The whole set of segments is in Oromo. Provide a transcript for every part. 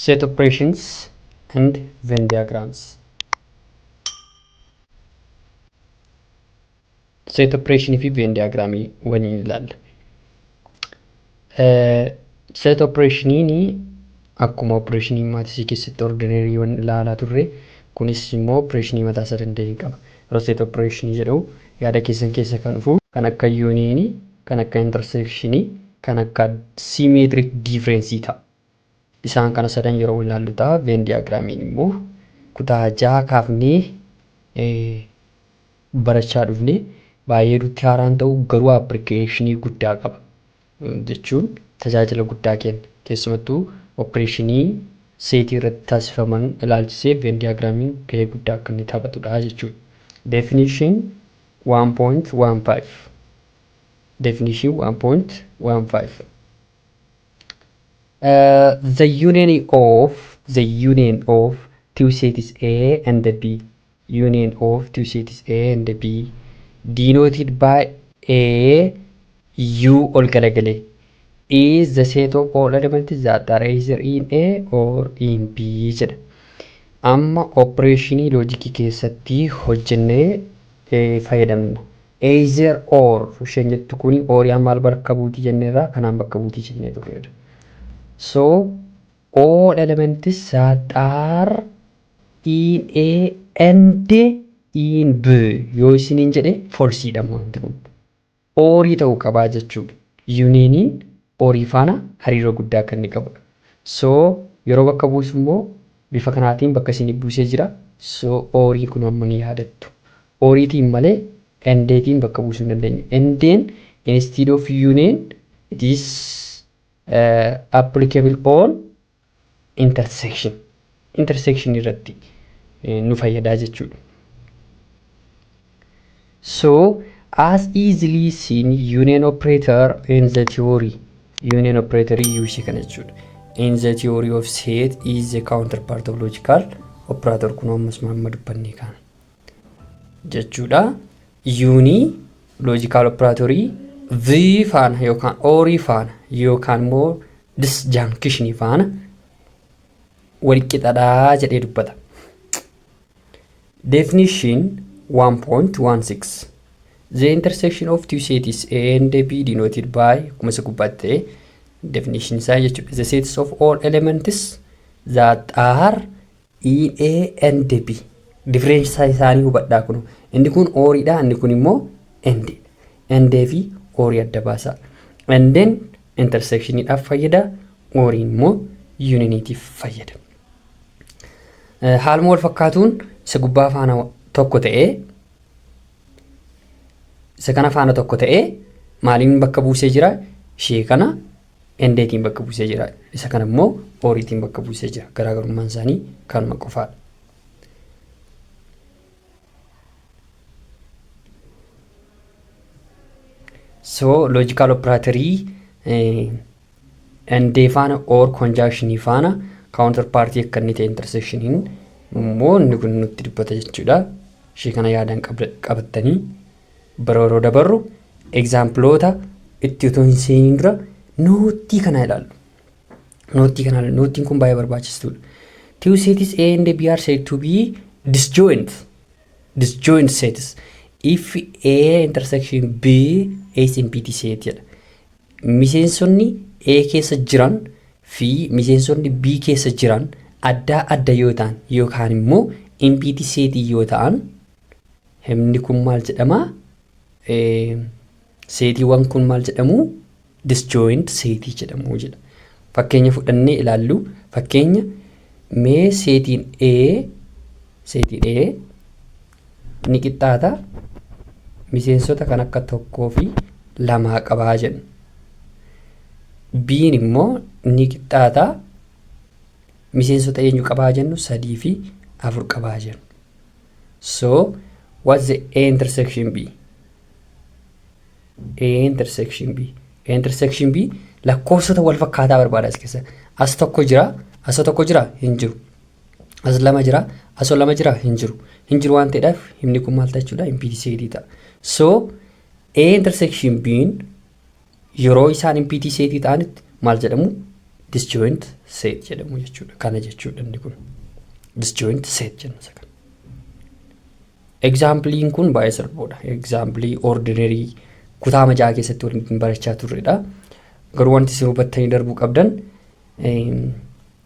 Set operations and Venn diagrams. Set operation fi Venn diagram waliin ilaalla. Set operationiin akkuma operation maatisii keessatti ordinary wan ilaalaa turre kunis immoo operation mataa isaa danda'e qaba. Yeroo set operation jedhu yaada keessan keessa kan dhufu kan akka union, kan akka intersection, kan akka symmetric difference ta'a. Isaan kana sadan yeroo walilaallu ta'a. Venn diagram-iin immoo kutaa 6 kaafnee barachaa dhufne. Baay'ee nutti haaraa hin ta'u, garuu apprikeeshinii guddaa qaba. Jechuun tajaajila guddaa kenna. Keessumattuu oppireeshinii seetii irratti taasifaman ilaalchisee Venn diagram-iin gahee guddaa akka inni taphatudha jechuudha. Definition 1.15 Definition 1.15 the union of the union of two sets A and B union of two sets A and B denoted by A U ol galagale is the set of all elements that are either in A or in B jedha. Amma opereeshinii loojikii keessatti hojjennee fayyadamna. Either, or isheen jettu kuni oori'aan maal bakka buuti jenneerra kanaan bakka buuti jennee turreerra. So all elements that are in A and in B yoo isiniin jedhe false dha wanti kun. Oorii ta'uu qabaa jechuudha. Unioniin orii faana hariiroo guddaa akka inni qabudha. So yeroo bakka buusu immoo bifa kanaatiin bakka isiniif buusee jira. So ooriin kun hammam yaadattu? Ooriitiin malee Endeetiin bakka buusuu hin dandeenyu. Endeen instead of union it is applicable on intersection. Intersection irratti nu fayyadaa jechuudha. So, as easily seen union operator in the theory. Union operator use kana jechuudha. In the theory of set is the counterpart of logical operator kun ammas amma dubbannee kana. jechuudha. Yuunii loojikaal operaatorii V faana yookaan oorii faana yookaan immoo disjaankishinii faana walqixadhaa jedhee dubbata. Definition 1.16 The intersection of two sets A and B denoted by akkuma isa gubbaatti ta'e definition isaa jechuudha. The sets of all elements that are A and B difference isaanii hubadhaa kun inni kun ooriidha inni kun immoo end end fi oorii adda baasaa endeen intersectioniidhaaf fayyada ooriin immoo yuuniiniitiif fayyada. Haaluma wal fakkaatuun isa gubbaa faana tokko ta'ee isa kana faana tokko ta'ee maaliin bakka buusee jira ishee kana Endeetiin bakka buusee jira. Isa kana immoo ooriitiin bakka buusee jira. Garaagarummaan isaanii kanuma qofaadha. So loojikaal operaatorii endee faana or konjaakshinii faana kaawuntar paartii akka inni ta'e interseekshiniin immoo inni kun nutti dubbata jechuudha. Ishee kana yaadaan qabattanii Bira yeroo dabarru egzaampiloota itti utuu hin seeniin dura noottii kana ilaallu. Noottii kana ilaallu. Noottiin kun baay'ee barbaachistuudha. Two sets A and B are said to be disjoint. Disjoint sets. If A intersection B is empty set jedha. Miseensonni A keessa jiran fi miseensonni B keessa jiran addaa adda yoo ta'an yookaan immoo empty set yoo ta'an Himni kun maal jedhama? Seetiiwwan kun maal jedhamu? Disjoint seetii jedhamu jedha. Fakkeenya fudhannee ilaallu. Fakkeenya mee seetiin A seetiin A ni qixxaata miseensota kan akka tokkoo fi lamaa qabaa jenna. B'n immoo ni qixxaata miseensota eenyu qabaa jennu sadii fi afur qabaa jennu. So what's the A intersection B? A intersection B. A intersection B lakkoofsota wal fakkaataa barbaada as keessa. As tokko jira, asoo tokko jira hin jiru. As lama jira, asoo lama jira hin jiru. Hin jiru waan ta'eedhaaf himni kun maal ta'a jechuudha? Impidii seetii ta'a. So A intersection B'n Yeroo isaan empty set ta'anitti maal jedhamu? Disjoint set jedhamu jechuudha. Kana jechuudha inni kun. Disjoint set jenna isa kana. Example'n kun baay'ee salphoodha. Example ordinary kutaa majaa keessatti waliin barachaa turredha. Garuu wanti isin hubattanii darbuu qabdan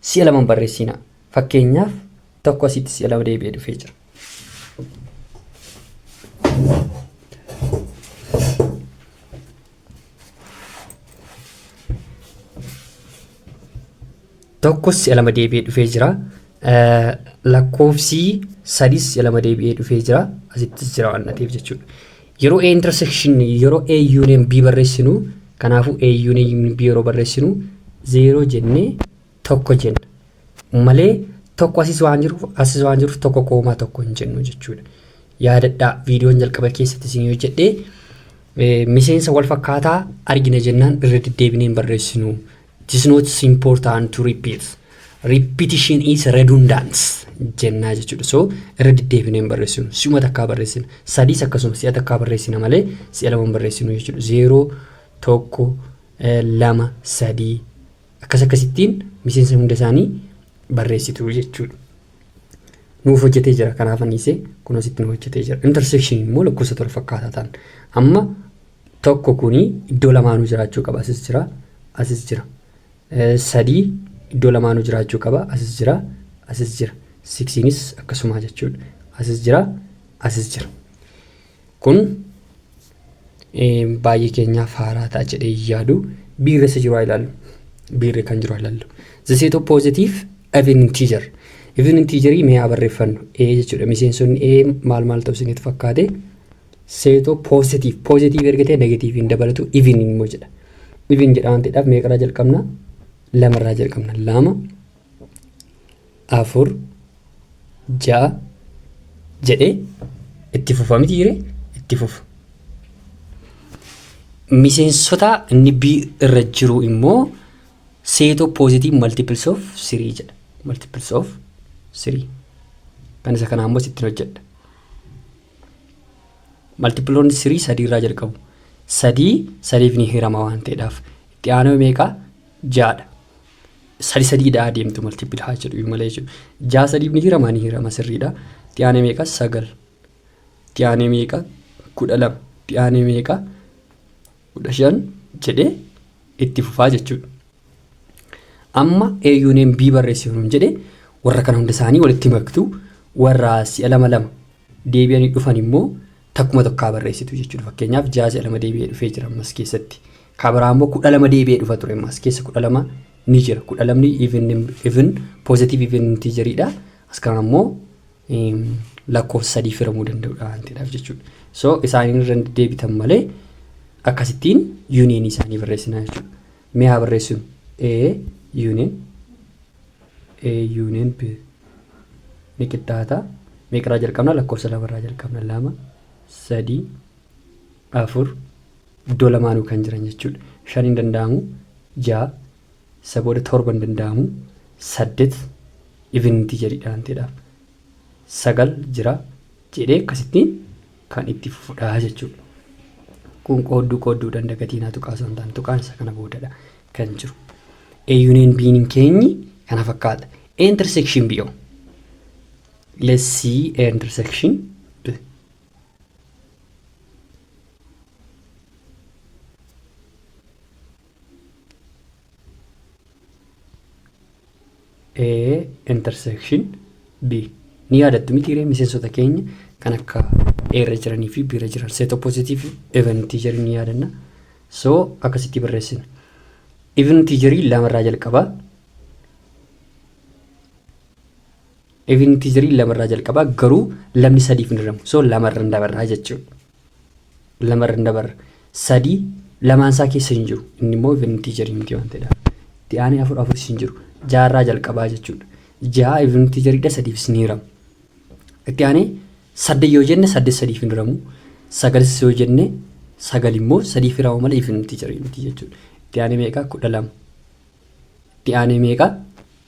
Si'a lama hin barreessiinaa. Fakkeenyaaf, tokko asitti si'a lama deebi'ee dhufee jira. Tokko si'a lama deebi'ee dhufee jira. Lakkoofsi sadis si'a lama deebi'ee dhufee jira. Asittis jira waan ta'eef jechuudha. Yeroo A intersection yeroo A union B barreessinu kanaafuu A union B yeroo barreessinu 0 jennee tokko jenna. Malee tokko asis waan jiruuf asis waan jiruuf tokko koomaa tokko hin jennu jechuudha. Yaadadhaa viidiyoon jalqaba keessatti isin hojjedhee miseensa wal fakkaataa argina jennaan irra deddeebinee hin barreessinu. It is not important to repeat. Repetition is redundant jennaa jechuudha. So irra deddeebinee hin barreessinu. Si'uma takkaa barreessina. Sadiis akkasuma si'a takkaa barreessina malee si'a lama hin barreessinu jechuudha. Zeeroo, tokko, eh, lama, sadii akkas akkasittiin miseensa hunda isaanii barreessitu jechuudha. Nuuf hojjetee jira kanaaf anniisee kunuun sitti nu hojjetee jira. Intersection immoo lakkoofsa tola fakkaataa ta'an. Amma 1 kuni iddoo lamaanuu jiraachuu qaba asis jira asis jira 3 iddoo lamaanuu jiraachuu qaba asis jira asis jira 6nis akkasumaa jechuudha asis jira asis jira kun baay'ee keenyaaf haaraa ta'a jedhee yaadu biirri isa jiru ilaallu biirri kan jiru ilaallu the set of positive even integer even integerii mee haa barreeffannu a jechuudha miseensonni a maal maal ta'u isinitti fakkaate seetoo positive positive erga ta'e negative hin dabalatu even immoo jedha even jedha waan ta'eedhaaf meeqarraa jalqabna lamarraa jalqabna lama afur ja'a jedhee itti fufa miti jire itti fufa miseensota inni B irra jiru immoo seetoo positive multiples of 3 jedha multiples of 3 kan isa kanaa immoo sittiin hojjedha Maltipiloonni sirii sadii irraa jalqabu. Sadii sadiif ni hirama waan ta'eedhaaf. Itti aanoo meeqa? Jaadha. Sadi sadii dhaa deemtu maltipil haa jedhu malee jechuudha. Jaa sadiif ni hirama ni hirama sirriidha. Itti aanee meeqa? Sagal. Itti aanee meeqa? Kudha lama. Itti aanee meeqa? 15 jedhee itti fufaa jechuudha. Amma eeyyuuneen B barreessi nuun jedhe warra kana hunda isaanii walitti maktu warra si'a lama lama deebi'anii dhufan immoo takkuma tokkaa barreessitu jechuudha. Fakkeenyaaf ja'a si'a lama deebi'ee dhufee jira ammas keessatti. Kaa biraa immoo kudha lama deebi'ee dhufa ture ammas keessa kudha lama ni jira. Kudha lamni even even positive even intiijeriidha. As kanaan immoo lakkoofsa sadii firamuu danda'udha waan ta'eedhaaf jechuudha. So isaaniin irra deebitan malee akkasittiin yuuniyeenii isaanii barreessinaa jechuudha. Mee haa barreessinu A yuuniyeen A yuuniyeen B ni qixxaata. Meeqarraa jalqabna lakkoofsa lamarraa jalqabna lama sadii afur iddoo lamaanuu kan jiran jechuudha. Shan hin danda'amu ja'a Isa booda torba hin danda'amu. Saddet even integer dha waan ta'eedhaaf. Sagal jira jedhee akkasittiin kan itti fufudha jechuudha. Kun qoodduu qoodduudhaan dagatiinaa tuqaa osoo hin taane tuqaan isa kana boodadha kan jiru. A union B hin keenyi kana fakkaata. A intersection B o. Let's see A intersection B. A intersection B ni yaadattu miti hiree miseensota keenya kan akka A irra jiranii fi B irra jiran set opposite fi even integer ni yaadanna so akkasitti barreessina even integer lama irraa jalqaba even integer lama irraa jalqaba garuu lamni sadiif hin hiramu so lama irra dabarraa jechuudha lamarra hin dabarra. Sadii lamaan isaa keessa hin jiru. Inni immoo even integer miti waan ta'edha. Itti aanee afur afuris hin jiru. Jaarraa jalqabaa jechuudha. Ja'a even integeridha sadiifis ni hiramu. Itti aanee saddeet yoo jenne saddeet sadiif hin hiramu. Sagalis yoo jenne sagal immoo sadiif hiramu malee even integer miti jechuudha. Itti aanee meeqa kudha lama. Itti aanee meeqa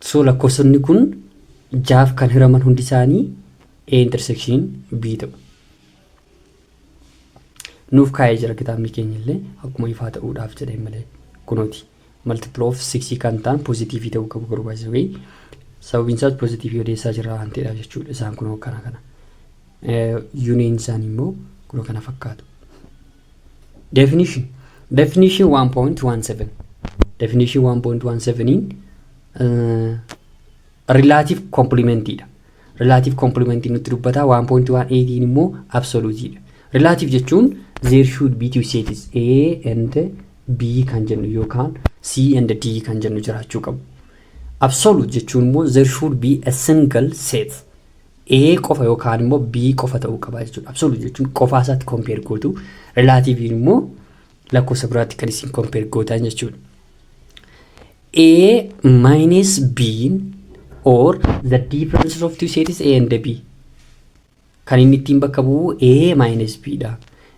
So lakkoofsonni kun jaaf kan hiraman hundi isaanii A intersection B ta'u. Nuuf kaa'ee jira kitaabni keenya illee akkuma ifaa ta'uudhaaf jedhee malee kunooti. Multiple of 6 kan ta'an pozitiivii ta'uu qabu garuu baay'ee wayii. Sababiin isaas pozitiivii odeessaa jira waan ta'eedhaaf jechuudha. Isaan kunoo kana kana. Yuuniin isaanii immoo kunoo kana fakkaatu. Definition Definition 1.17 Definition 1.17n relative complement dha. Relative complement nutti dubbataa 1.18n immoo absolute dha. Relative jechuun there should be two sets A and B kan jennu yookaan C and D kan jennu jiraachuu qabu. Absolute jechuun immoo there should be a single set A qofa yookaan immoo B qofa ta'uu qaba jechuudha. Absolute jechuun qofaa isaatti compare gootu. Relaatiiviin immoo lakkoofsa biraatti kan isin compare gootan jechuudha. A minus B or the differences of two sets A and B. Kan inni ittiin bakka bu'u A minus B dha.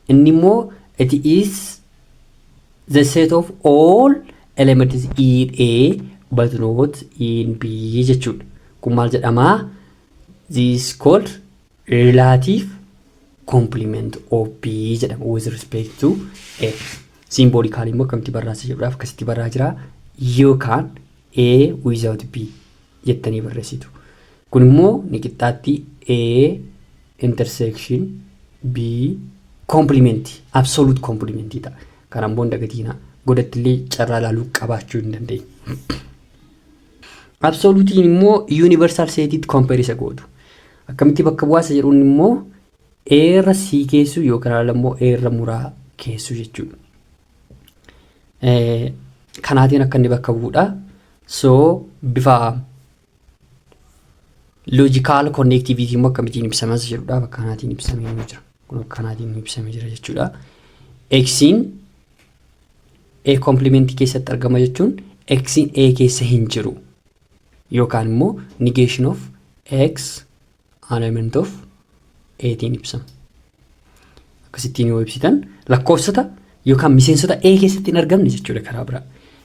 Inni immoo it is The set of all elements in A but not in B jechuudha. Kun maal jedhama? This called relative complement of B jedhama with respect to A. Simboolikaal immoo akkamitti barraasa jedhuudhaaf akkasitti barraa jira. Yookaan A without B. jettanii barreessitu. Kun immoo ni qixxaatti A intersection B complement absolute complement ta'a. Kana immoo hin dagatiina. Godatti illee carraa ilaaluu qabaachuu hin dandeenye. Absolutiin immoo universal seetiitti compare isa gootu. Akkamitti bakka bu'aasa jedhuun immoo A irra C keessu yookaan ala immoo A irra muraa keessu jechuudha. kanaatiin akka inni bakka bu'udha. So bifa loojikaal konneektiviitii immoo akkamitiin ibsamas jedhudha bakka kanaatiin ibsamee ni jira. Kun akka kanaatiin ibsamee jira jechuudha. Eksiin A kompilimentii keessatti argama jechuun eksiin A keessa hin jiru yookaan immoo negation of x Alignment of A tiin ibsama. Akkasittiin yoo ibsitan lakkoofsota yookaan miseensota A keessatti hin argamne jechuudha karaa biraa.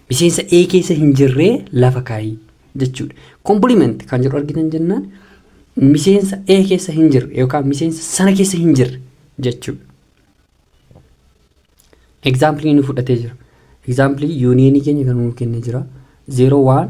Miseensa A keessa hin jirree lafa kaayii jechuudha. Complement kan jedhu argitan jennaan miseensa A keessa hin jirre yookaan miseensa sana keessa hin jirre jechuudha. Example nu fudhatee jira. Example yuuniyeenii keenya kan nuuf kennee jira. 0 1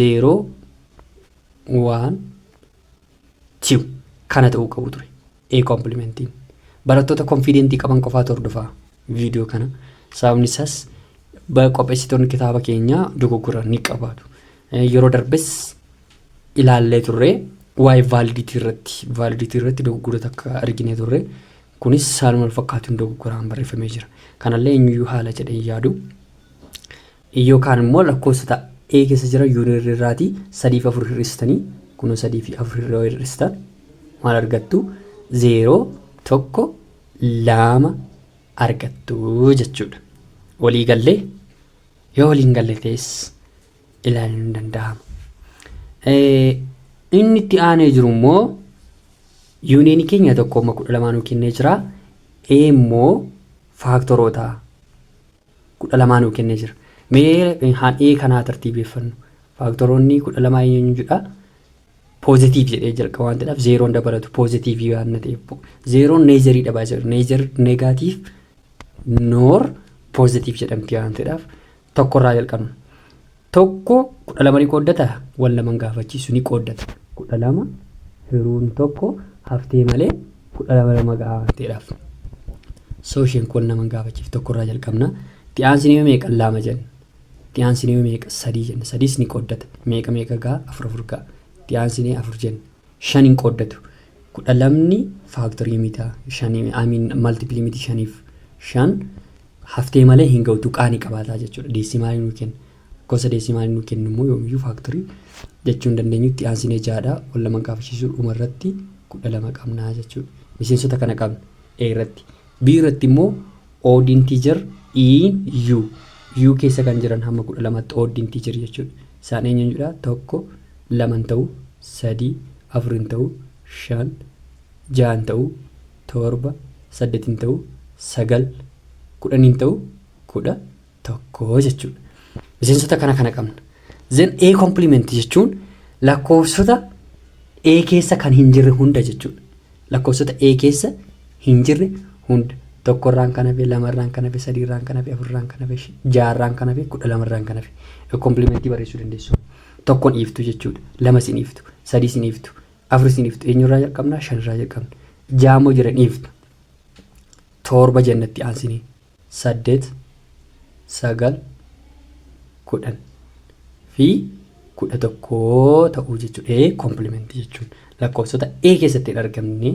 0 1 2 kana ta'uu qabu ture ee komplimentiin barattoota konfiidentii qaban qofaatu hordofaa viidiyoo kana sababni isaas qopheessitoonni kitaaba keenyaa dogoggora ni qabaatu yeroo darbes ilaallee turre waa'ee vaaliditii irratti vaaliditii irratti dogoggora takka argine turre kunis saaluma fakkaatuun dogoggoraan barreeffamee jira kanallee eenyuyyuu haala jedhee yaadu e yookaan immoo lakkoofsa ta, ee keessa jira yuunirri irraati 3 fi 4 hir'istanii kunoo 3 fi 4 irra yoo hir'istan maal argattu 0 1 2 argattu jechuudha walii gallee yoo waliin galle ta'es ilaaluun ni danda'ama Eh, inni itti aanee jiru immoo yuuniyeenii keenya tokko amma kudha lamaanuu kennee jira e immoo faaktoroota kudha lamaa nuu kennee jira. Mee haan ee kana haa tartiibeeffannu. Faaktoroonni kudha lamaa eenyu eenyu jedha? Poozitiiv jedhee jalqaba waan ta'eef zeeroon dabalatu poozitiivii waan ta'eef zeeroon neezarii dhabaa jira. Neezar negaatiif noor poozitiiv jedhamti waan ta'eef tokkorraa jalqabna. 1 12 ni qooddataa? Wan laman gaafachiisu ni qooddata. 12 hiruun tokko haftee malee 12 lama ga'a waan ta'eedhaaf. So isheen kun naman gaafachiif tokko irraa jalqabna. Itti aansinee yoo meeqan laama jenna. Itti aansinee yoo meeqa sadii jenna. Sadiis ni qooddata. Meeqa meeqa ga'a? Afur afur ga'a. Itti aansinee afur jenna. shan hin qooddatu. kudha lamni faaktorii mita shan I mean multiple miti shaniif shan haftee malee hin ga'u tuqaa ni qabaataa jechuudha. Deesimaalii nuu kenna. Gosa deesimaalii nuu kennu immoo yoomiyyuu faaktorii jechuu hin dandeenyu itti aansinee jaadha. Wal lama gaafachisuu dhuma irratti kudha lama qabna jechuudha. Miseensota kana qabna A irratti. B irratti immoo odd integer in u u keessa kan jiran hamma kudha lamatti odd integer jechuudha isaan eenyu eenyudha tokko lama hin ta'u sadii afur hin ta'u shan ja'a hin ta'u torba saddeet hin ta'u sagal kudhan hin ta'u kudha tokko jechuudha. Miseensota kana kana qabna. Then A complement jechuun lakkoofsota A keessa kan hin jirre hunda jechuudha. Lakkoofsota A keessa hin jirre hunda. Tokkorraan kan hafe, lamarraan kan hafe, sadiirraan kan hafe, afurraan kan hafe, jaarraan kan hafe, kudha lamarraan kan hafe. A complementii barreessuu dandeessu. Tokkon dhiiftu jechuudha. Lama sin dhiiftu, sadii sin dhiiftu, afur sin dhiiftu. Eenyurraa jalqabnaa? Shanirraa jalqabna. Jaamoo jiran dhiiftu. Torba jennatti aansinee. saddeet, sagal, kudhan fi kudha tokko ta'uu jechuudha. A kompilimentii jechuun lakkoofsota A keessatti hin argamne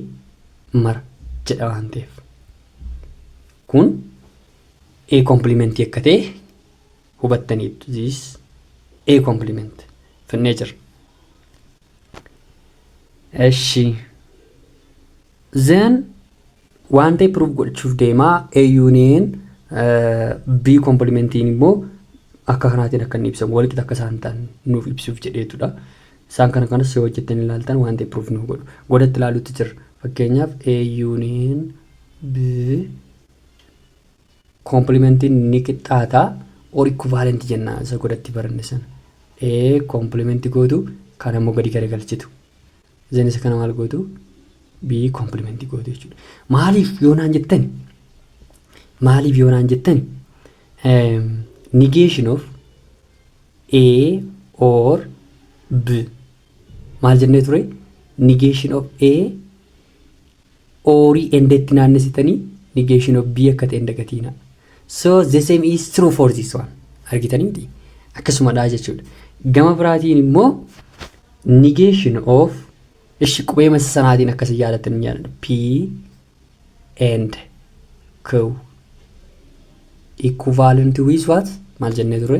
mara jedha waan ta'eef. Kun A kompilimentii akka ta'e hubattaniittu. This A kompiliment finnee jirra. Eshi. Then waan ta'e proof godhachuuf deema A union B kompilimentiin immoo akka kanaatiin akka inni ibsamu walqixa akka isaan ta'an nuuf ibsuuf jedheetudha. Isaan kana kanas yoo hojjettanii ilaaltan waan ta'e proof nuuf godhu. Godatti ilaaluutti jirra. Fakkeenyaaf A union B Koomplimentiin ni qixxaata or equivalent jenna isa godatti baranne sana. A koompliment gootu kan ammoo gadi garagalchitu. Then isa kana maal gootu? B koompliment gootu jechuudha. Maaliif yoo naan jettani? Maaliif yoo naan jettani? Um, negation of A or B. Maal jennee ture? Negation of A or enda itti naannessitanii negation of B akka ta'e hin dagatiinaa. So the same is true for this one. Argitanii miti? Akkasumadha jechuudha. Gama biraatiin immoo negation of ishi qubee masa sanaatiin akkasii yaadattan hin yaadadha. P and Q equivalent with what? Maal jennee ture?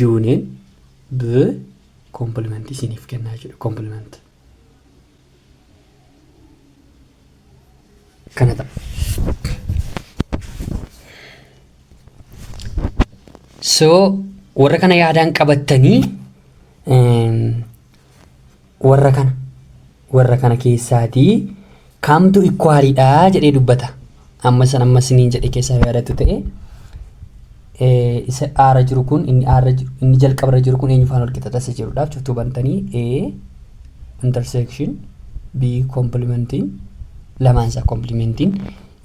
Yuuniin B kompilimentii isiniif kennaa jechuudha. Kompilimentii. Kana ta'a. So warra kana yaadaan qabattanii warra kana warra kana keessaatii kamtu ikwaaliidha jedhee dubbata amma san amma siniin jedhe keessaa yaadatu ta'e isa aara jiru kun inni aara inni jalqabarra jiru kun eenyufaan wal qixa tasa jirudhaaf cuftuu bantanii a intersection b complementiin lamaan isaa complementiin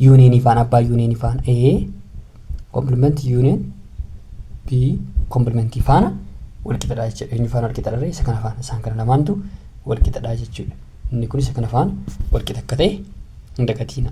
yuuneenii faan abbaa yuuneenii faan A komplimenti yuuneen B komplimentii faana walqixadha jechuudha. Eenyu faana walqixadha ree isa kana faana isaan kana lamaantu walqixadha jechuudha. Inni kun isa kana faana walqixa akka ta'e hin dagatiina.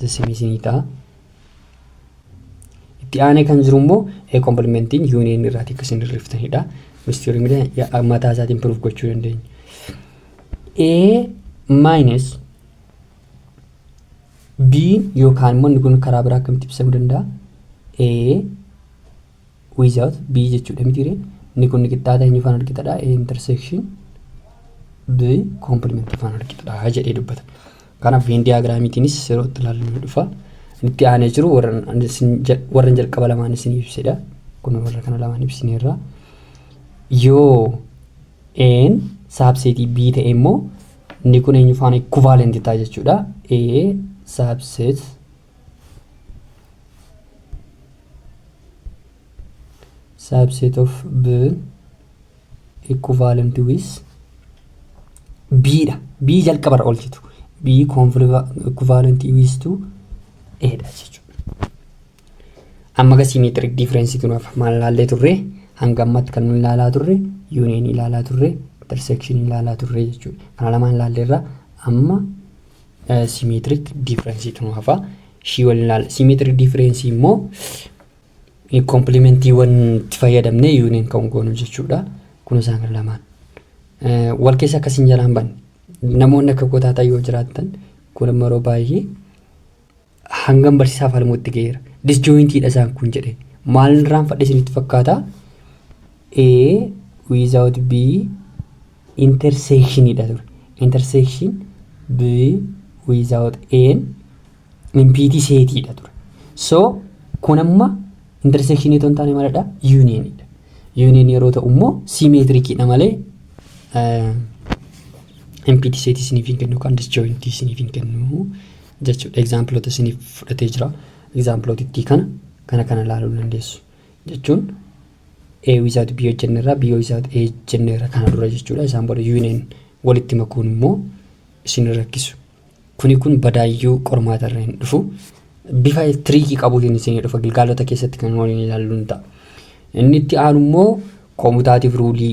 dismiss ni ta'a. Itti aanee kan jiru immoo kompilimentiin yuuniyeeni irraa akka isin hirriftanidha. Mistiyorii miidhaa mataa isaatiin piruuf gochuu dandeenya. A minus B yookaan immoo inni kun karaa biraa akkamitti ibsamuu danda'a? A without b jechuudha mitiire inni kun qixxaata eenyu faan walqixadha a intersection b complement faan walqixadha jedhee dubbata kanaaf veen diyaagiraamiitiinis yeroo itti ilaallu ni dhufa itti aanee jiru warran jalqaba lamaan isin ibsedha kun warra kana lamaan ibsineerra yoo een saabseetii b ta'e immoo inni kun eenyu faana equivalent ta'a jechuudha a saabseet subset of b equivalent with b dha b jalqabarra oolchitu b equivalent with to a dha jechuudha amma ga symmetric difference tun hafa maal ilaallee turre hanga ammatti kan nu ilaalaa turre union ilaalaa turre intersection ilaalaa turre jechuudha kana lamaan ilaalleerra amma Simeetirik diifirensiitu nu hafa. Ishii waliin ilaala. Simeetirik diifirensii immoo komplimentiiwwan itti fayyadamnee yuuniin kan goonu jechuudha. Kun isaan kan lamaan. Wal keessa akkasiin jalaan banne. Namoonni akka kotaataa yoo jiraattan kun immoo yeroo baay'ee hangam barsiisaa falmuutti ga'eera. Disjooyintiidha isaan kun jedhe. Maal irraan fadhe isinitti fakkaata? A without B intersection dha ture. Intersection B without N impiti seetii dha ture. So kun amma intersection itoo hin taane maalidha? Union dha. Union yeroo ta'u immoo simeetirikii dha malee impiti seetii isiniif hin kennu kan disjooyintii isiniif hin kennu jechuudha. Egzaampiloota isiniif fudhatee jira. Egzaampilootittii kana kana kana ilaaluu dandeessu. Jechuun A without B hojjenneerra, B without A jenneerra kana dura jechuudha. Isaan booda union walitti makuun immoo isin rakkisu. Kuni kun badaayyuu qormaata irra hin dhufu. Bifa tiriikii qabuutiin isin dhufa gilgaalota keessatti kan waliin ilaalluun ta'a. Inni itti aanu immoo koomutaatiif ruulii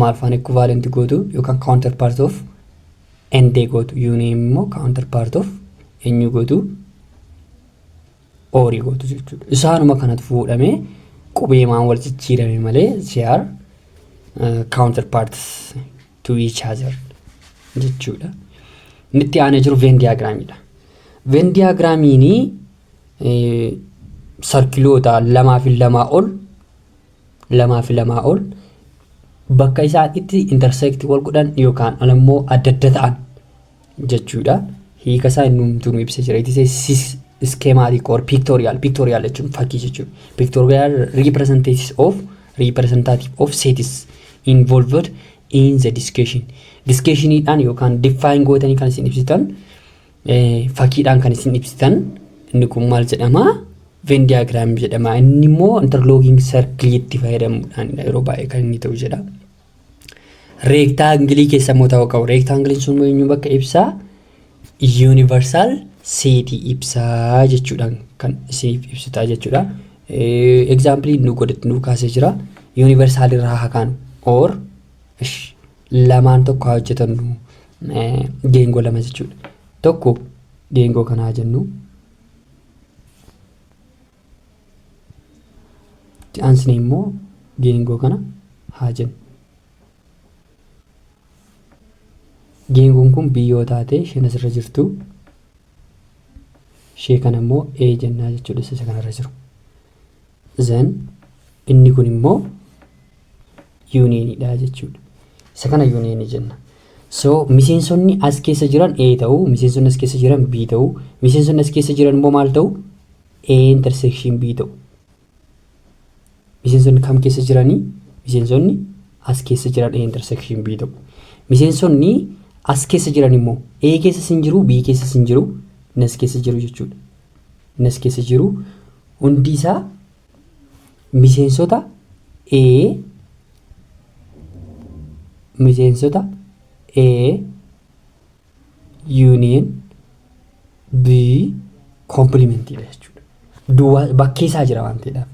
maal faana equivalent gootu yookaan counter part of ND gootu union immoo counter part of eenyu gootu oorii gootu jechuudha. Isaanuma kanatu fuudhamee qubeemaan wal jijjiirame malee CR counter parts to each other jechuudha. Inni itti aanee jiru Venn diagramiidha. Venn diagramiin sarkiloota lamaa fi lamaa ol lamaa fi lamaa ol bakka isaan itti intersect wal godhan yookaan ammoo adda adda ta'an jechuudha. Hiika isaa inni hundumtuu nu ibsa jira. It is a sys- schematic or pictorial. Pictorial jechuun fakkii jechuudha. Pictorial representations of representative of sets involved in the discussion. Discussioniidhaan yookaan define gootanii kan isin ibsitan fakiidhaan kan isin ibsitan inni kun maal jedhama Venn diagram jedhama inni immoo interlocking circle itti fayyadamuudhaan yeroo baay'ee kan inni ta'u jedha reektaangilii keessa immoo ta'uu qabu reektaangiliin sun immoo eenyu bakka ibsaa universal seetii ibsaa jechuudhaan kan isiniif ibsitaa jechuudha example nu godhatti nu kaasee jira universal irraa hakaan or ish lamaan tokko haa hojjetannu geengoo lama jechuudha. Tokko geengoo kana haa jennu. Itti aansine immoo geengoo kana haa jennu. Geengoon kun biyyoo taatee isheen asirra jirtu ishee kana immoo A jennaa jechuudha isa kanarra jiru. Then inni kun immoo yuuniyeeniidha jechuudha. Isa kana yuuniyeenii jenna. So miseensonni as keessa jiran A ta'u, miseensonni as keessa jiran B ta'u, miseensonni as keessa jiran immoo maal ta'u? A intersection B ta'u. Miseensonni kam keessa jiranii? Miseensonni as keessa jiran A intersection B ta'u. Miseensonni as keessa jiran immoo A keessa sin jiru, B keessa sin jiru, nas keessa jiru jechuudha. nas keessa jiru hundi isaa miseensota A miseensota A union B komplimentiidha jechuudha. Duwwaa bakkee isaa jira waan ta'eedhaaf.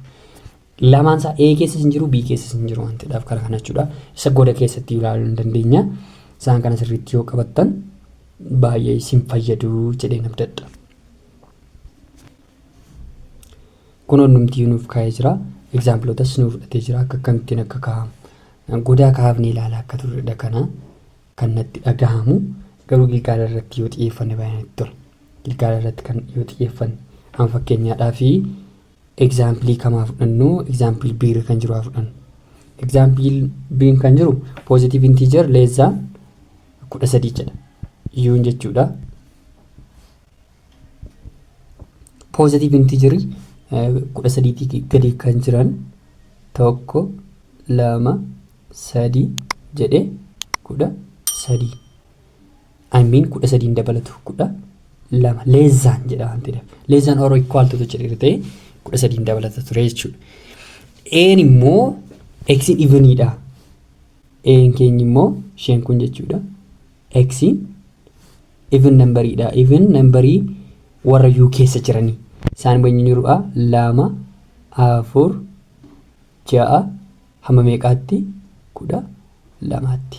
Lamaan isaa A keessas hin jiru B keessas hin jiru waan ta'eedhaaf kana kana jechuudha. Isa goda keessatti ilaaluu hin dandeenya. Isaan kana sirriitti yoo qabattan baay'ee isin fayyadu jedheen abdadha. kun onnumtiyyuu nuuf kaa'ee jira egzaampilootas nuuf fudhatee jira akka akkamittiin akka kaa'amu godaa kaafnee ilaalaa akka turredha kana kan natti dhagahamu garuu gilgaala irratti yoo xiyyeeffanne baay'ee natti tola gilgaala irratti kan yoo xiyyeeffanne amma fakkeenyaadhaa fi Example kam haa fudhannu? Example B irra kan jiru haa fudhannu. Example B kan jiru positive integer less than kudha sadii jedha. Yuun jechuudha. Positive integer kudha sadiitii gadi kan jiran tokko lama sadii jedhe kudha sadii. I mean kudha sadii hin dabalatu kudha lama less than jedha waan ta'eef less than or equal to jedhe ta'e kudha sadii hin dabalata ture jechuudha. Een immoo eksiin iviniidha. Een keenyi immoo isheen kun jechuudha. Eksiin even nambariidha. Even nambarii warra yuu keessa jiranii. Isaan immoo inni jiruudha lama afur ja'a hamma meeqaatti kudha lamaatti.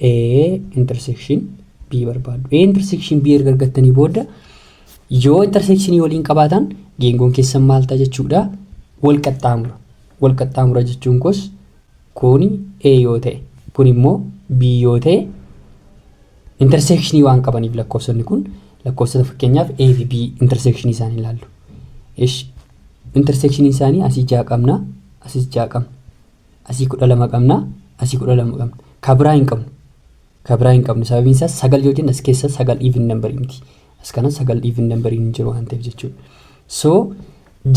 A intersection B barbaaddu. A intersection B erga argattanii booda yoo intersekshinii waliin qabaatan geengoon keessan maal ta'a jechuudha wal qaxxaamura. Wal qaxxaamura jechuun kos kuni A yoo ta'e kun immoo B yoo ta'e intersekshinii waan qabaniif lakkoofsonni kun lakkoofsota fakkeenyaaf A fi B intersekshinii isaanii ilaallu. Ish intersekshinii isaanii asii ja'a qabna asis ja'a qabna. Asii 12 qabna. Asii 12 qabna. Ka biraa hin qabnu. Ka biraa hin qabnu. Sababiin isaas sagal yoo jennu as keessa sagal even number miti. As kana sagal even number hin jiru waan ta'eef jechuudha. So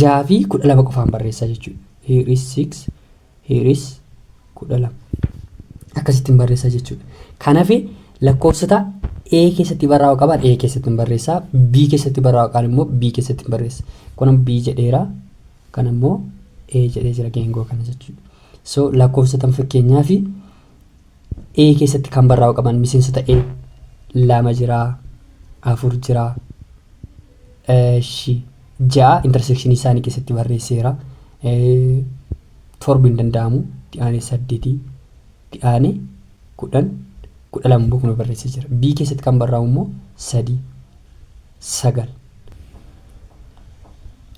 jaha fi 12 qofaan barreessaa jechuudha. Here is 6, here is 12. Akkasittiin barreessaa jechuudha. Kanaaf lakkoofsota A keessatti barraa'u qaban A keessatti hin barreessaa. B keessatti barraa'u qaban immoo B keessatti hin barreessa. Kun B jedheera. Kana immoo A jedhee jira geengoo kana jechuudha. So lakkoofsota amma fakkeenyaaf A keessatti kan barraa'u qaban miseensota A lama jira, afur jira, eshi ja'a intersekshinii isaanii keessatti barreesseera. Eh, Torbi hin danda'amu. Itti aanee saddeetii, itti aanee kudhan, kudha lama immoo kuma barreessee jira. B keessatti kan barraa'u immoo sadii. 9.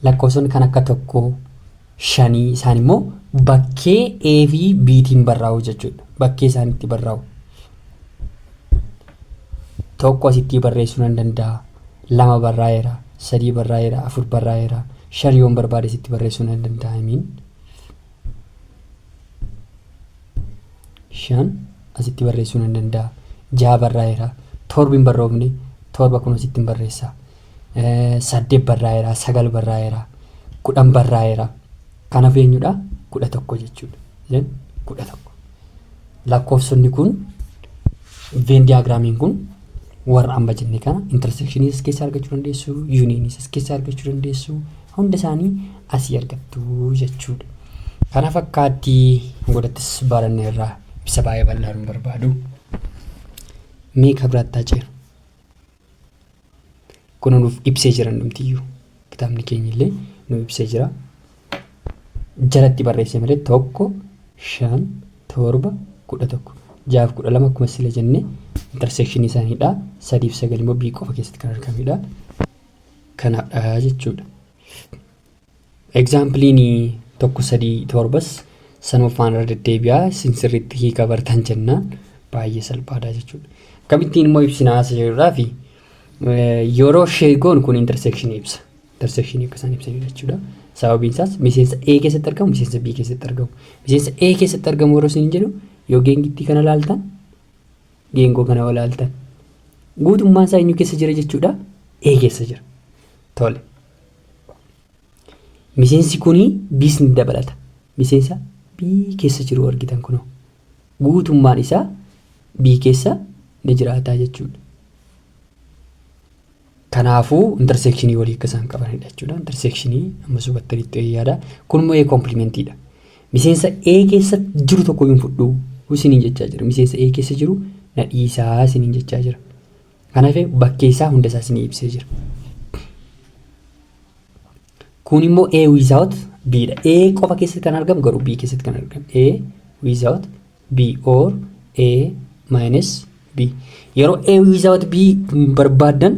Lakkoofsonni kan akka tokkoo, shanii isaan immoo bakkee A fi B tiin barraa'u jechuudha. Bakkee isaan itti barraa'u. Tokko asittii barreessuu nan danda'a. Lama barraa'eera, sadii barraa'eera, afur barraa'eera, shan yoon barbaade asitti barreessuu nan danda'a. I mean. shan asitti barreessuu nan danda'a jaha barraa'eera torbi hin barroofne torba kun asitti hin barreessa saddeet barraa'eera sagal barraa'eera kudhan barraa'eera kanaaf eenyudha kudha tokko jechuudha then kudha tokko lakkoofsonni kun veen diyaagiraamiin kun warra amma jenne kana intersekshinii as keessaa argachuu dandeessu yuuniinis as keessaa argachuu dandeessu Hunda isaanii asii argattu jechuudha. Kana fakkaatti godattis baranne irraa ibsa baay'ee bal'aa nu barbaadu. Mee ka biraattaa ceenu. Kun nuuf ibsee jira hundumtiyyuu. Kitaabni keenya illee nu ibsee jira. Jalatti barreessee malee tokko shan torba kudha tokko jaaf kudha lama akkuma sila jenne intersekshinii isaaniidha. Sadiif sagal immoo bii qofa keessatti kan argamedha. kanadha jechuudha. Egzaampiliin tokko sadii torbas sanuffaan irra deddeebi'aa isin sirriitti hiika bartan jennaan baay'ee salphaadha jechuudha. Akkamittiin immoo ibsinaa isa jedhurraa fi yeroo sheegoon kun interseekshinii ibsa. Interseekshinii akka isaan ibsanii jechuudha. Sababiin isaas miseensa A keessatti argamu miseensa B keessatti argamu. Miseensa A keessatti argamu yeroo isin jedhu yoo geengittii kana laaltan Geengoo kana yoo ilaaltan guutummaan isaa eenyu keessa jira jechuudha? A keessa jira. Tole. Miseensi kuni B's ni dabalata. Miseensa B keessa jiru argitan kunoo. Guutummaan isaa B keessa ni jiraata jechuudha. Kanaafuu interseekshinii walii akka isaan qabanidha jechuudha. Interseekshinii ammas hubattanitti wayii yaada. Kun immoo A komplimentiidha. Miseensa A keessa jiru tokko hin fudhu isiniin jechaa jira. Miseensa A keessa jiru na dhiisaa isiniin jechaa jira. Kanaaf bakkee isaa hunda isaa isinii ibsee jira. Kun immoo A without B dha. A qofa keessatti kan argamu garuu B keessatti kan argamu. A without B or A minus B. Yeroo A without B barbaaddan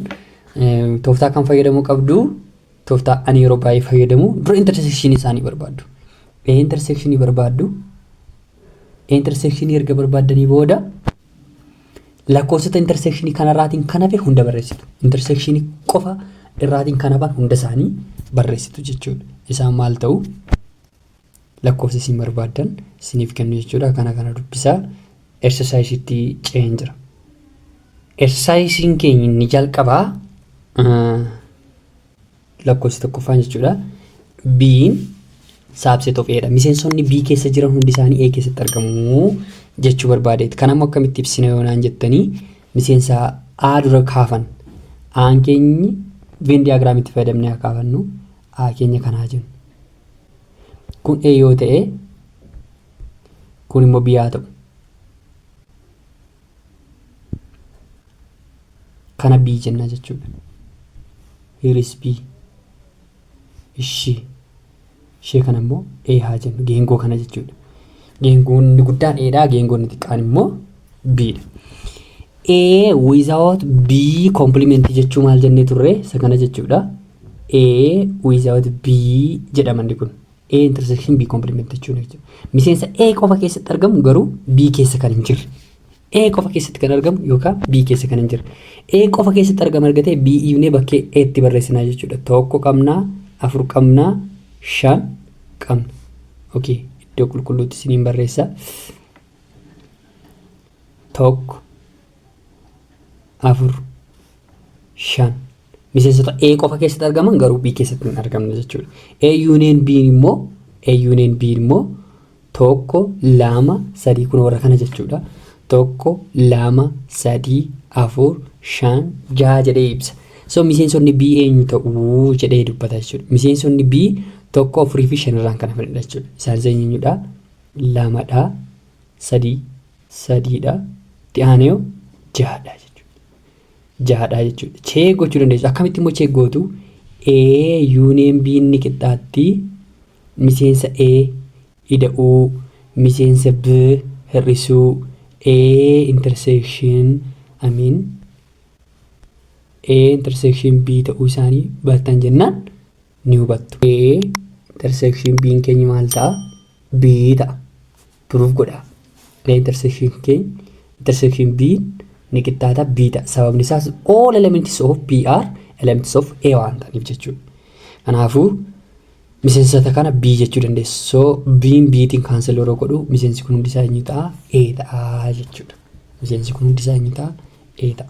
tooftaa kan fayyadamuu qabdu tooftaa ani yeroo baay'ee fayyadamu dura intersekshinii isaanii barbaaddu. A intersekshinii barbaaddu. A intersekshinii erga barbaaddanii booda lakkoofsota intersekshinii kanarraatiin kan hafe hunda barreessitu. Intersekshinii qofa irraatiin kan hafan hunda isaanii barreessitu jechuudha. Isaan maal ta'u? lakkoofsa isin barbaaddan isiniif kennu jechuudha. Kana kana dubbisaa ersasaayisiitti ce'een jira. Ersasaayisiin keenya inni jalqabaa lakkoofsi tokkoffaan jechuudha. B'n saabseet of eedha. Miseensonni B keessa jiran hundi isaanii A keessatti argamu jechuu barbaadeeti. Kan ammoo akkamitti ibsina yoo naan jettanii miseensa A dura kaafan. A'an keenyi Venn diyaagiraamitti fayyadamnee haa kaafannu. A keenya kanaa jennu. Kun A yoo ta'e kun immoo B haa ta'u. Kana B jenna jechuudha. Here is B. Ishii. Ishee kana immoo A haa jennu. Geengoo kana jechuudha. Geengoon inni guddaan A dha. Geengoon inni xiqqaan immoo B dha. A without B complement jechuu maal jennee turre isa kana jechuudha. A without B jedha manni kun. A intersection B complement jechuun jechuudha. Miseensa A qofa keessatti argamu garuu B keessa kan hin jirre. A qofa keessatti kan argamu yookaan B keessa kan hin jirre. A qofa keessatti argama argatee B iibnee bakkee A itti barreessinaa jechuudha. Tokko qabnaa, afur qabnaa, shan qabna. Okay, iddoo qulqulluutti isiniin barreessa. tokko afur shan miseensota A qofa keessatti argaman garuu B keessatti hin argamne jechuudha. A yuuniyeen B immoo A yuuniyeen B immoo tokko lama sadii kun warra kana jechuudha. Tokko lama sadii afur shan jaha jedhee ibsa. So miseensonni B eenyu ta'uu jedhee dubbata jechuudha. Miseensonni B tokko afurii fi shan irraan kan hafanidha jechuudha. Isaanis eenyuudha? lama dha. sadii sadii dha. itti aanee hoo jaha dha jechuudha. jaha dha jechuudha. cheek gochuu dandeessu. akkamitti immoo cheek gootu A yuuniyeen B ni qixxaatti miseensa A ida'uu miseensa B hir'isuu A intersection I mean A intersection B ta'uu isaanii bartan jennaan ni hubattu. A intersection B'n keenyi maal ta'a? B ta'a. Proof godhaa. A intersection keeny intersection B ni qixxaata B ta'a. Sababni isaas all elements of B are elements of A waan ta'aniif jechuudha. Kanaafuu miseensota kana B jechuu dandeessu. So B'n B'tiin kaansel yeroo godhu miseensi kun hundi isaa eenyu ta'a? A ta'a jechuudha. Miseensi kun hundi isaa eenyu ta'a? A ta'a.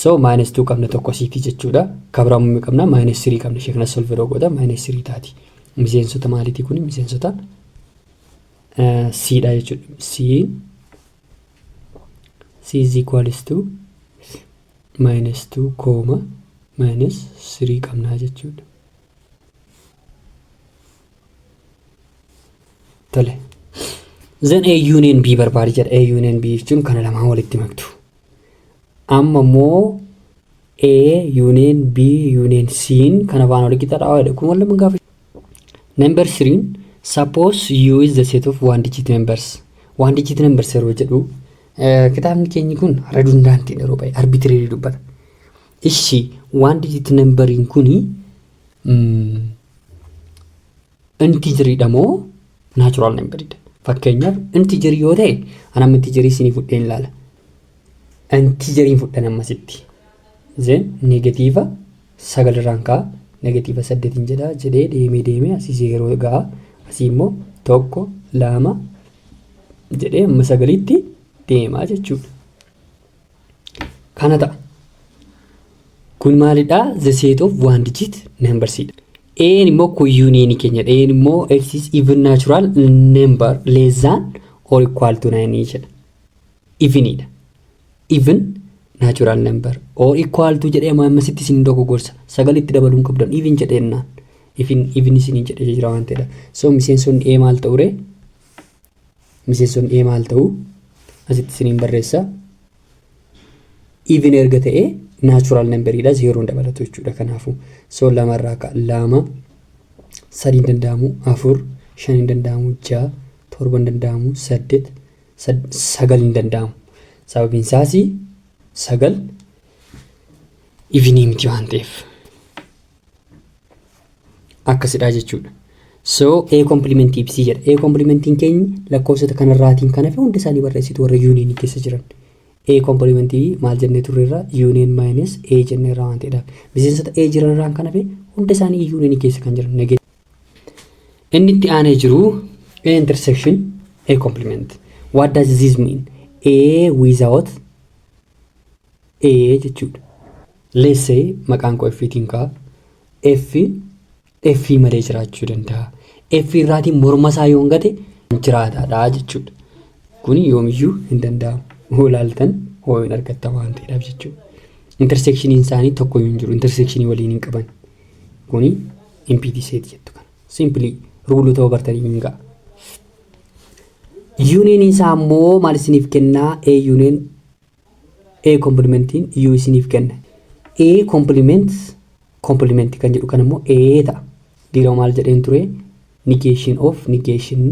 So minus 2 qabna tokko siiti jechuudha. Kabraa mummee qabna minus 3 qabna ishee kana solve yeroo gooda minus 3 taati. Miseensota maaliitii kun miseensota siidha jechuudha. C C is equals to minus 2 kooma minus 3 qabna jechuudha. Tole. Then A union B barbaadi jedha. A union B jechuun kana lamaan walitti maktu. Amma immoo A union B union C in kan afaan walqixa dha jedhe kun waluma gaafa number 3 suppose U is the set of one digit numbers one digit numbers yeroo jedhu eh, kitaabni keenyi kun redundant yeroo baay'ee arbitrary dubbata ishi one digit numberiin kuni mm, Intijirii dha moo natural number dha? Fakkeenyaaf intijirii yoo ta'e ana amma intijirii isinii fudhee hin laala. Intijiriin fudhan amma sitti. Zeen negatiiva sagal irraan ka'a negatiiva saddeet hin jedha jedhee deemee deemee asii zeeroo ga'a asii immoo tokko lama jedhee amma sagaliitti deema jechuudha. kana ta'a. Kun maalidha? The set of one digit numbers dha. Een immoo kun union keenya dha. Een immoo x is even natural number less than or equal to 9 jedha. Even dha. Even natural number or equal to jedhee amma ammasitti isin dogoggorsa. Sagal itti dabaluu hin qabdan. Even jedhee innaan. Even even isin jedhee jira waan ta'edha. So miseensonni ee maal ta'u ree? miseensonni A maal ta'u asitti isiniin barreessa. Even erga ta'e natural number dha zeeroon dabalatu jechuudha kanaafu. So lama irraa ka lama sadii hin danda'amu afur shan hin danda'amu ja'a torba hin danda'amu saddeet sagal hin danda'amu. Sababiin isaas sagal ivinii miti waan ta'eef. akkasidhaa jechuudha. So A complement B jedha. A complementiin keenya lakkoofsota kanarraatiin kan hafe hunda isaanii barreessitu warra yuuniinii keessa jiran. A complement B maal jennee turreerra yuuniin minus A jenneerra waan ta'edha. Miseensota A jiranirraan kan hafe hunda isaanii yuuniinii keessa kan jiran negate. Inni itti aanee jiru A intersection A complement. What does this mean? A without A jechuudha. Let's say maqaan koo F tiin ka'a. F F malee jiraachuu danda'a. F irraatiin morma isaa yoo hin gate jiraataadha jechuudha. Kun yoomiyyuu hin danda'amu. Hoo ilaaltan hoo hin argattan waan ta'eedhaaf jechuudha. Interseekshiniin isaanii tokko hin jiru. Interseekshinii waliin hin qaban. Kuni impiti seet jettu kana. Simpilii ruuluu ta'uu bartanii hin ga'a. Yuuniin isaa immoo maal isiniif kennaa? A yuuniin A complementn U isiniif kenna. A complements complement kan jedhu kan immoo A ta'a. Dirama maal jedheen ture? Negation of negation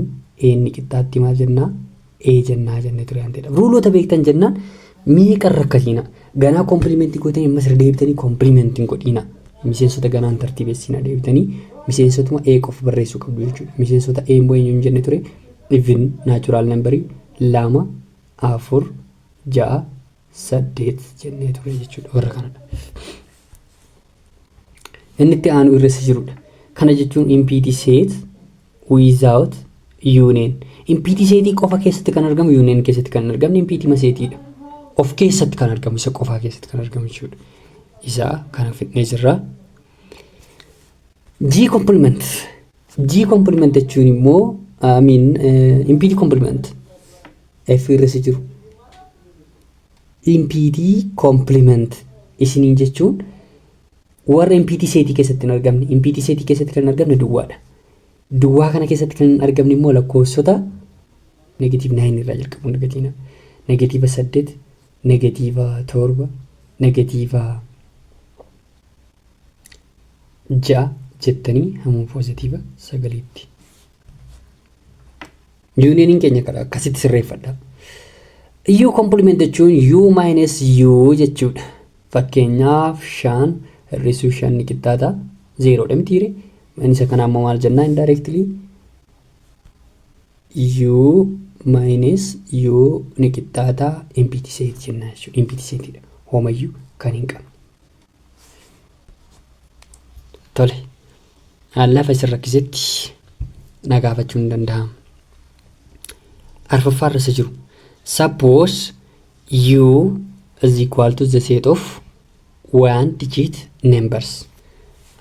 A inni qixxaatti maal jennaa? A jennaa jenne ture waan ta'eedha. Ruuloota beektan jennaan meeqa irra akkasiina. Ganaa complement gootanii ammas irra deebitanii complement hin godhiina. Miseensota ganaan tartiibessiina deebitanii miseensotuma A qofa barreessuu qabdu jechuudha. Miseensota A immoo eenyu hin jenne ture? Even natural number lama afur, ja'a, saddeet jennee turre jechuudha warra kanadha. Inni itti aanu irra isa jirudha. Kana jechuun impiti seet without union. Impiti seetii qofa keessatti kan argamu union keessatti kan hin argamne impiti maseetiidha. Of keessatti kan argamu isa qofaa keessatti kan argamu jechuudha. Isaa kana fidnee jirra. G complement. G complement jechuun immoo I mean impede complement F irra si jiru. Impede complement isiniin jechuun warra impede seetii keessatti hin argamne. Impede seetii keessatti kan hin argamne duwwaadha. Duwwaa kana keessatti kan hin argamne immoo lakkoofsota negatiiv 9 irraa jalqabuun argatina. Negatiiva 8, negatiiva 7, negatiiva ja'a jettanii hamma poozitiiva sagaliitti. Yuuniyeeniin keenya kana akkasitti sirreeffadha. U komplimenti jechuun U maayinus U jechuudha. Fakkeenyaaf shan hir'isuu shan ni qixxaata. Zeeroodha mitiire. Maayinisa kana ammoo maal jennaa indirectly U maayinus U ni qixxaata impiti seet jennaa jechuudha. Impiti seetidha. Homayyuu kan hin qabne. Tole, aan lafa isin rakkisetti na gaafachuun ni danda'ama. Arfaffaa irra isa jiru. Suppose u is equal to the set of one digit numbers.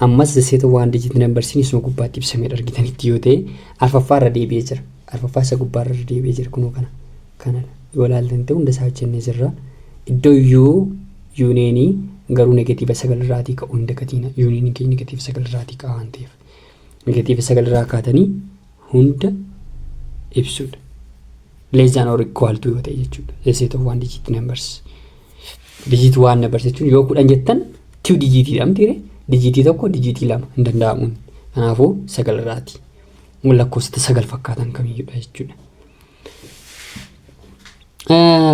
Ammas the set of one digit numbers isuma gubbaatti ibsamedha argitanitti yoo ta'e arfaffaa irra deebi'ee jira. Arfaffaa isa gubbaa irra deebi'ee jira kunoo kana. Kana yoo ilaaltan ta'e hunda isaa hojjennee jirra. Iddoo yuu yuuneenii garuu negatiiva sagal irraatii ka'u hin dagatiina. Yuuneeniin keenya negatiiva sagal irraatii ka'a waan ta'eef. Negatiiva sagal irraa kaatanii hunda ibsuudha. Less than or equal to yoo ta'e jechuudha. The set of one digit numbers. Dijiitii waan na barsiichuun yoo kudhan jettan tiu dijiitii dha miti ree? Dijiitii tokko dijiitii lama hin danda'amuun. Kanaafuu sagal irraati. Lakkoofsota sagal fakkaatan kamiyyuudha jechuudha.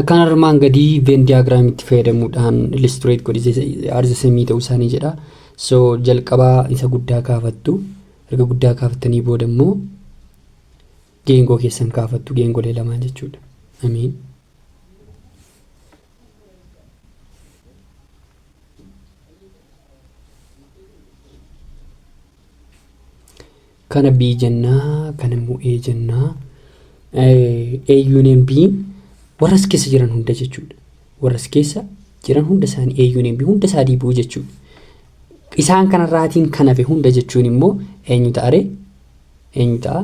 Kan armaan gadii veen diyaagiraamitti fayyadamuudhaan illustrate godhi arza samii ta'uu isaanii jedha. So jalqabaa isa guddaa kaafattu. Erga guddaa kaafattanii booda immoo Geengoo keessan kaafattu geengolee lamaan jechuudha. Amiin. Kana B jennaa, kana immoo A jennaa. A union B warra as keessa jiran hunda jechuudha. Warra as keessa jiran hunda isaanii A union B hunda isaa deebi'uu jechuudha. Isaan kanarraatiin kan hafe hunda jechuun immoo eenyu ta'are? eenyu ta'a?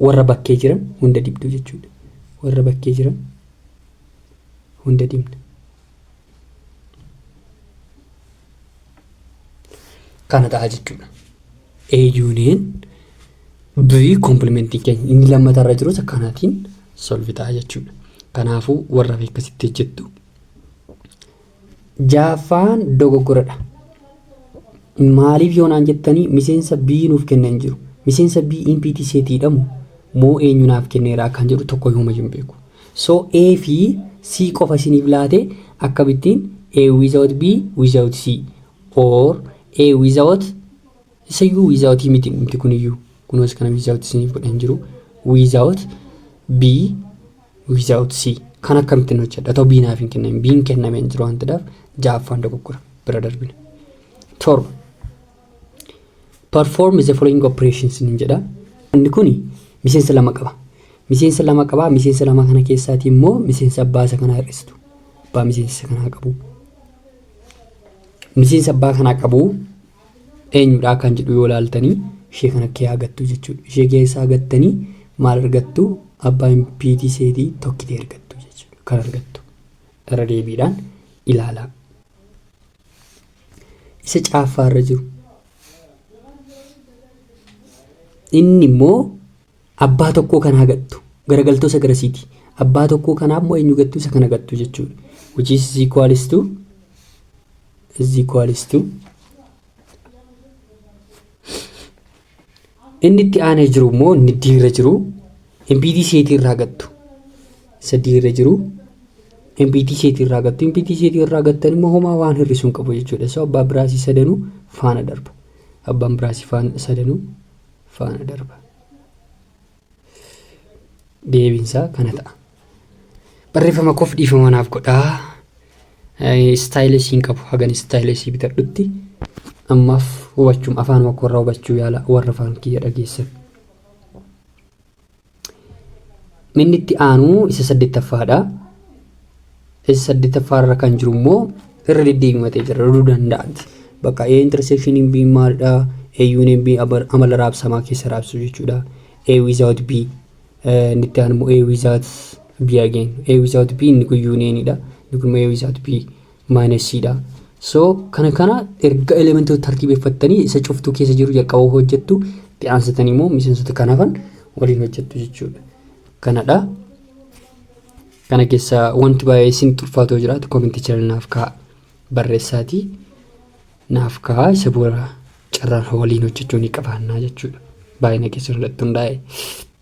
Warra bakkee jiran hunda dibdu jechuudha. Warra bakkee jiran hunda dibna. Kana ta'a jechuudha. A union B kompilimentiin keenya inni lammataa irra jirus akkanaatiin solvi ta'a jechuudha. Kanaafuu warra beekkasitti hojjettu Ja'affaan dogoggoradha. Maaliif yoo naan jettanii miseensa B nuuf kenne hin jiru. Miseensa B empty set dha moo moo eenyu naaf kenneera akkan jedhu tokko himumayyuu hin beeku. So A fi C qofa isiniif laate akkamittiin A without B without C or A without isayyuu without miti dhumti kuniyyuu kunoos kana without isiniif godhe hin jiru without B without C. Kan akkamittiin hojjedha otoo B naaf hin kennamin B'n kennamee hin jiru waan ta'eef ja'affaan dogoggora bira darbina. Torba. Perform the following operations nin jedha. Inni kun miseensa lama qaba. Miseensa lama qaba. Miseensa lama kana keessaatii immoo miseensa abbaa isa kanaa hir'istu. Abbaa miseensa isa kanaa qabu. Miseensa abbaa kanaa qabu eenyudhaa kan jedhu yoo laaltanii ishee kana kiyaa gattuu jechuudha ishee kiyaa isaa gattanii maal argattu abbaa impiitii seetii tokkitee argattu jechuudha kan argattu irra deebiidhaan ilaalaa isa caaffaa irra jiru inni immoo Abbaa tokkoo kanaa gattu. Garagaltoo isa garasiiti. Abbaa tokkoo kanaa immoo eenyu gattu? Isa kana gattu jechuudha. Which is is equals to is equals to inni itti aanee jiru immoo inni diirra jiru MPT seetii irraa gattu. Isa diirra jiru MPT seetii irraa gattu. MPT seetii irraa gattan immoo homaa waan hir'isuu hin qabu jechuudha. So abbaa biraasii sadanuu faana darba. Abbaan biraasii faana sadanuu faana darba. Deebiinsaa kana ta'a. Barreeffama koof dhiifama naaf godhaa. Istaayilii siin qabu hagan istaayilii sii bitadhutti ammaaf hubachuun afaan makoo irraa hubachuu yaala warra afaan kiyya dhageessan. Minni itti aanu isa saddeettaffaadha. Isa saddeettaffaa irra kan jiru immoo irra deddeebimatee jira irra danda'aatti. Bakka A intersection B maalidha? A union B amala raabsamaa keessa raabsu jechuudha. A without B inni itti aanu immoo A without B again. A without B inni kun unionidha. Inni kun immoo A without B. minus dha. So kana kana erga elementoota tartiibeffattanii isa cuftuu keessa jiru jalqaba hojjettu itti aansitanii immoo miseensota kan hafan waliin hojjettu jechuudha. Kanadha. Kana keessa wanti baay'ee isin xulfaatoo jiraatu kominti jala naaf ka'a barreessaati. Naaf ka'a isa booda carraan waliin hojjechuu ni qabaannaa jechuudha. Baay'ina keessan irratti hundaa'e.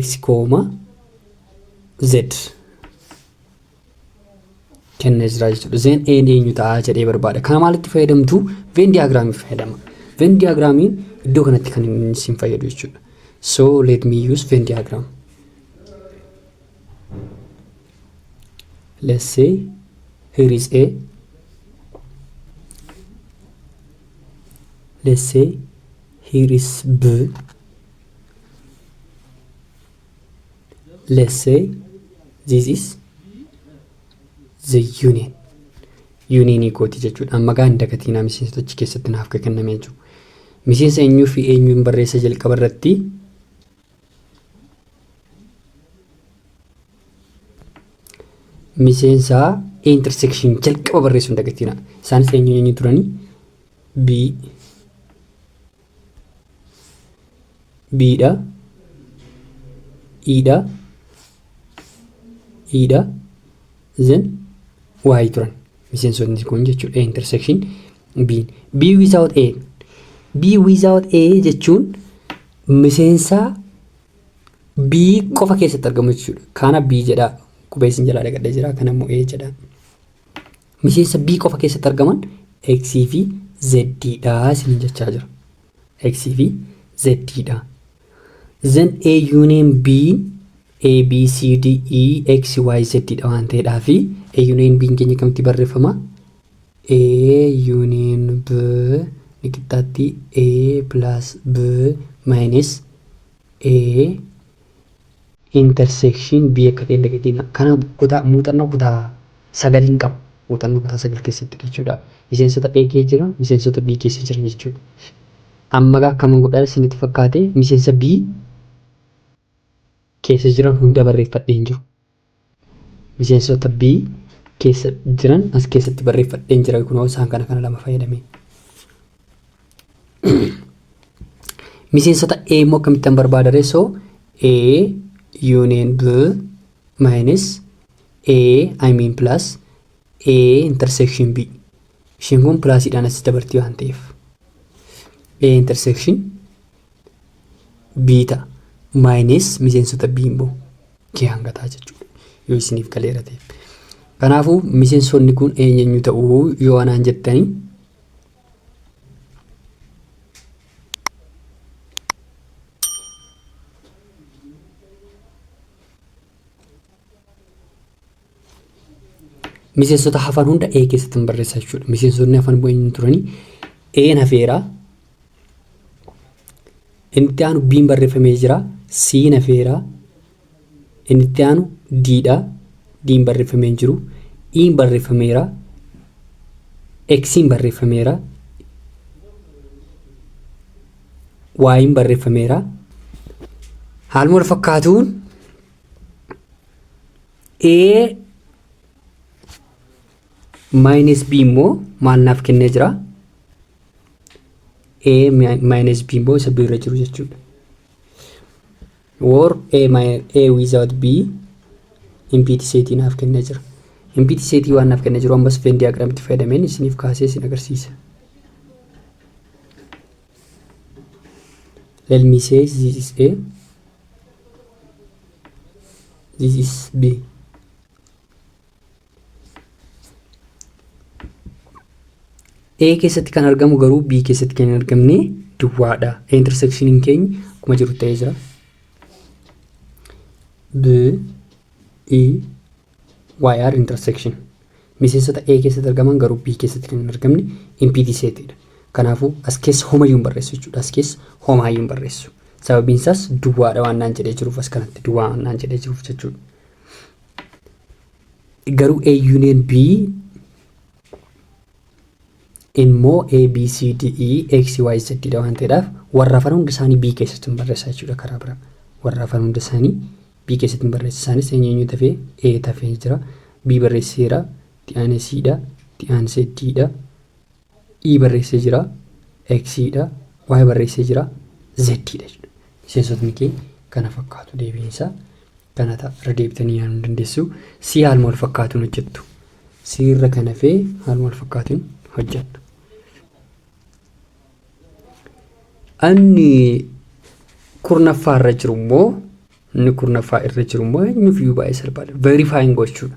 x kooma z kennee jira jechuudha. Zeen A ni eenyu ta'a jedhee barbaada. Kana maalitti fayyadamtu? Veen diyaagiraamii fayyadama. Veen diyaagiraamiin iddoo kanatti kan inni isin fayyadu jechuudha. So let me use Venn diagram. Let's say here is A. Let's say here is B. let's say this is the union yuuniinii kooti jechuudha amma gaa hin dagatiinaa miseensota achi keessatti naaf kan kennamee jiru miseensa eenyuu fi eenyuun barreessa jalqaba irratti miseensa intersection jalqaba barreessuun dagatiina isaanis eenyuun eenyu turanii b biidha iidha iidha zen waayii turan miseensotni kun jechuudha intersection biin bii without a bii without a jechuun miseensaa bii qofa keessatti argamu jechuudha kaana bii jedhaa qubeessin jalaa dhagadhee jira kana immoo a jedhaa Miseensa B qofa keessatti argaman X fi Z dha isiniin jechaa jira. X fi Z dha. Then A union B A B C D E X Y Z dha waan ta'eedhaa fi A union B keenya akkamitti barreeffama? A union B ni qixxaatti A plus B minus A intersection B akka ta'e hin dagatinaa. Kana kutaa muuxannoo kutaa sagaliin qaba. Muuxannoo kutaa sagal keessatti jechuudha. Miseensota A keessa jira, miseensota B keessa jira jechuudha. Amma egaa akkaman godhaa isinitti fakkaate miseensa B keessa jiran hunda barreeffadhee hin jiru. Miseensota B keessa jiran as keessatti barreeffadheen jira kunoo isaan kana kana lama fayyadamee. Miseensota A immoo akkamittan barbaada reessoo A union B minus A I mean plus A intersection B ishiin kun pilaasiidhaan as dabartii waan ta'eef A intersection biita maayinees miseensota B immoo K hanga ta'a jechuudha. Yoo isiniif galeera ta'e. Kanaafuu miseensonni kun eenyeenyu ta'uu yoo anaan jettanii miseensota hafan hunda A keessatti hin barreessa jechuudha. Miseensonni hafan immoo eenyu turanii A'n hafeera. Inni itti aanu B'n barreeffamee jira. C'n hafeera. Inni itti aanu D'dha. D'n barreeffamee hin jiru. E'n barreeffameera. X'n barreeffameera. Y'n barreeffameera. Haaluma wal fakkaatuun a minus b immoo maal naaf kennee jira a minus b immoo isa b irra jiru jechuudha or a, mi- a without b impiti seetii naaf kennee jira impiti seetii waan naaf kennee jiru ammas veen diyaagiraamitti fayyadameen isiniif kaasee isin agarsiisa Let me say this is A. This is B. A keessatti kan argamu garuu B keessatti kan hin argamne duwwaadha. A intersectioniin keenya akkuma jiru ta'ee jira. B, E, yr intersection miseensota A keessatti argaman garuu B keessatti kan hin argamne impiti seetidha. Kanaafuu as keessa homayyuu hin barreessu jechuudha. As keessa homaayyuu hin barreessu. Sababiin isaas duwwaadha waan naan jedhee jiruuf as kanatti duwwaa waan naan jedhee jiruuf jechuudha. Garuu A union B immoo A, B, C, D, E, X, Y, Z dha waan ta'eedhaaf warra hafan hunda isaanii B keessatti hin barreessaa jechuudha karaa biraa. Warra hafan hunda isaanii B keessatti hin barreessa. Isaanis eenyu eenyu tafee A tafee jira. B barreesseera. Itti aanee C dha. Itti aansee D dha. E barreessee jira. X dha. Y barreessee jira. Z dha jechuudha. Miseensotni kee kana fakkaatu deebiin isaa kana ta'a. Irra deebitanii yaaluu ni dandeessu. C haaluma wal fakkaatuun hojjettu. C irra kan hafee haaluma wal fakkaatuun hojjettu. Anni kurnaffaa irra jiru immoo inni kurnaffaa irra jiru immoo eenyuuf iyyuu baay'ee salphaadha. Verifying gochuudha.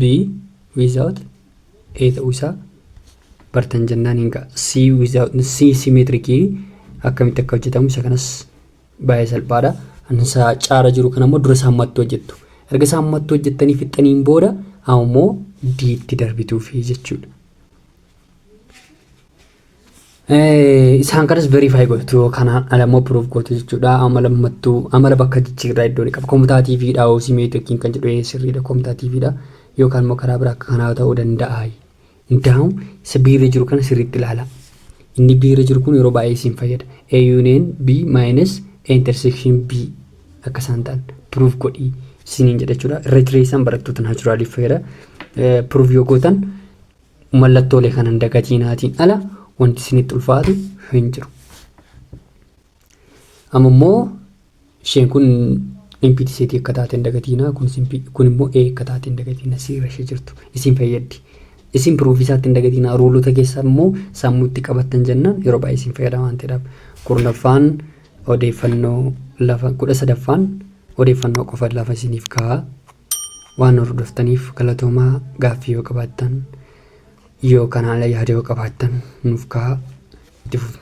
B without A ta'uu isaa bartan jennaan hin ga'a. C without C simeetirikii akkamitti akka hojjetamu isa kanas baay'ee salphaadha. Annisaa caara jiru kana immoo dura isaa hammattuu hojjettu. Erga isaa hammattuu hojjettanii fixxaniin booda ammoo D itti darbituufi jechuudha. Isaan kanas verify gochuu yoo kana alammoo proof gootu jechuudha. Amala mattuu amala bakka jijjiirraa iddoo ni qaba. Komtaa TV dha hoosii meetu yookiin kan jedhu sirriidha. Komtaa TV dha yookaan immoo karaa biraa akka kanaa ta'uu danda'a. Indaa'u isa biirra jiru kana sirriitti ilaala. Inni biirra jiru kun yeroo baay'ee isin fayyada. A union B minus A intersection B akka isaan ta'an proof godhii isiniin jedha jechuudha. Irra jireessaan barattoota naachuraaliif fayyada. Proof yoo gootan mallattoolee kana hin dagatiinaatiin ala wanti isinitti ulfaatu hin jiru. Amma immoo isheen kun impiti seetii akka taate hin dagatiinaa kun simpi- kun immoo ee akka taate hin dagatiinaa siira ishee jirtu isin fayyaddi. Isin piruufii isaatti hin dagatiinaa ruulota keessaa immoo sammuu itti qabattan jennaan yeroo baay'ee isin fayyada waan ta'eedhaaf. Kurnaffaan odeeffannoo lafa kudha sadaffaan odeeffannoo qofa lafa isiniif ka'a. Waan hordoftaniif galatoomaa gaaffii yoo qabaattan yoo kan haala yaada yoo qabaattan nuuf kaa'aa itti fufna.